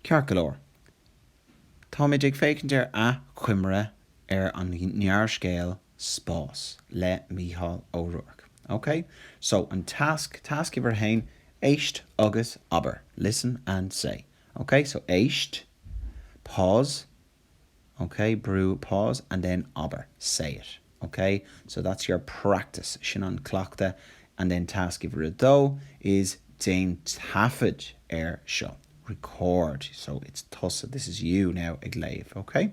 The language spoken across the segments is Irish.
Ceart go leor, táimid ag féachaint ar athchoimre ar an ngearrscéal 'Spás' le Mícheál Ó Ruairc. Ok? So, an tasc, tasc uimhir a haon, éist agus abair. Listen and say. Ok? So, éist. Pause. OK? Brú, pause, and then abair, say it. OK? So that's your practice. Sin an cleachtadh. And then tasc uimhir a dó is déan taifead air seo. Record. So it's tusa, this is you now, ag léamh. OK?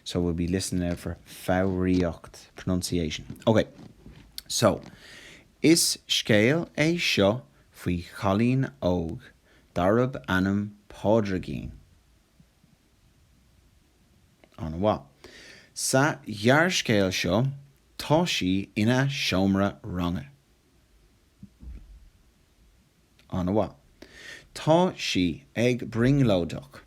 So we'll be listening now for foghraíocht, pronunciation. OK. So, Is scéal é seo faoi chailín óg darb ainm Pádraigín. An-mhaith. Sa ghearrscéal seo tá sí ina seomra ranga. An-mhaith. Tá sí ag brionglóideach.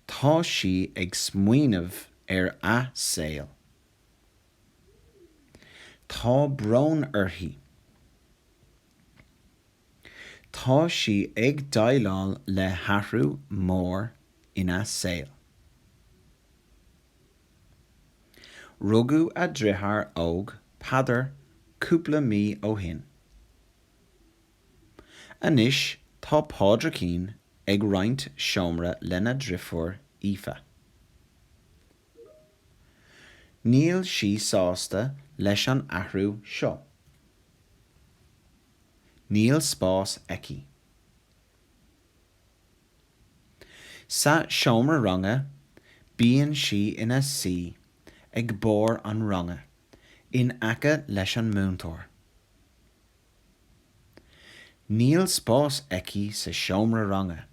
Tá sí ag smaoineamh ar a saol. Tá brón uirthi. Tá sí ag deighleáil le hathrú mór ina saol. Rugadh a deartháir óg Peadar cúpla mí ó shin. Anois tá Pádraigín ag roinnt seomra lena deirfiúr Aoife. Níl sí sásta leis an athrú seo. Níl spás aici. Sa seomra ranga bíonn sí ina suí ag barr an ranga in aice leis an múinteoir. Níl spás aici sa seomra ranga.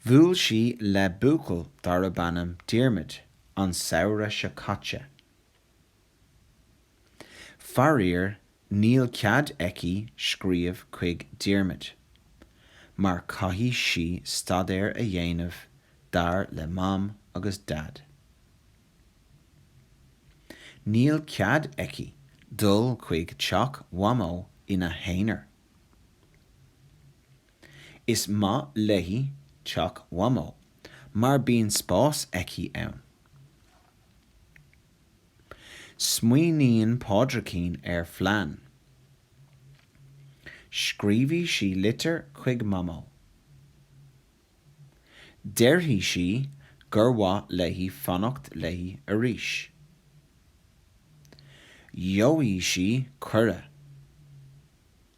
Bhuail sí le buachaill darb ainm Diarmaid an samhradh seo caite. Faraor níl cead aici scríobh chuig Diarmaid mar caithfidh sí staidéar a dhéanamh dar le Mam agus Daid. Níl cead aici dul chuig teach Mhamó ina haonar. Is maith léi teach Mhamó mar bíonn spás aici ann. Smaoiníonn Pádraicín ar phlean. Scríobhfaidh sí litir chuig Mamó. Déarfaidh sí gur mhaith léi fanacht léi arís. Gheobhaidh sí cuireadh.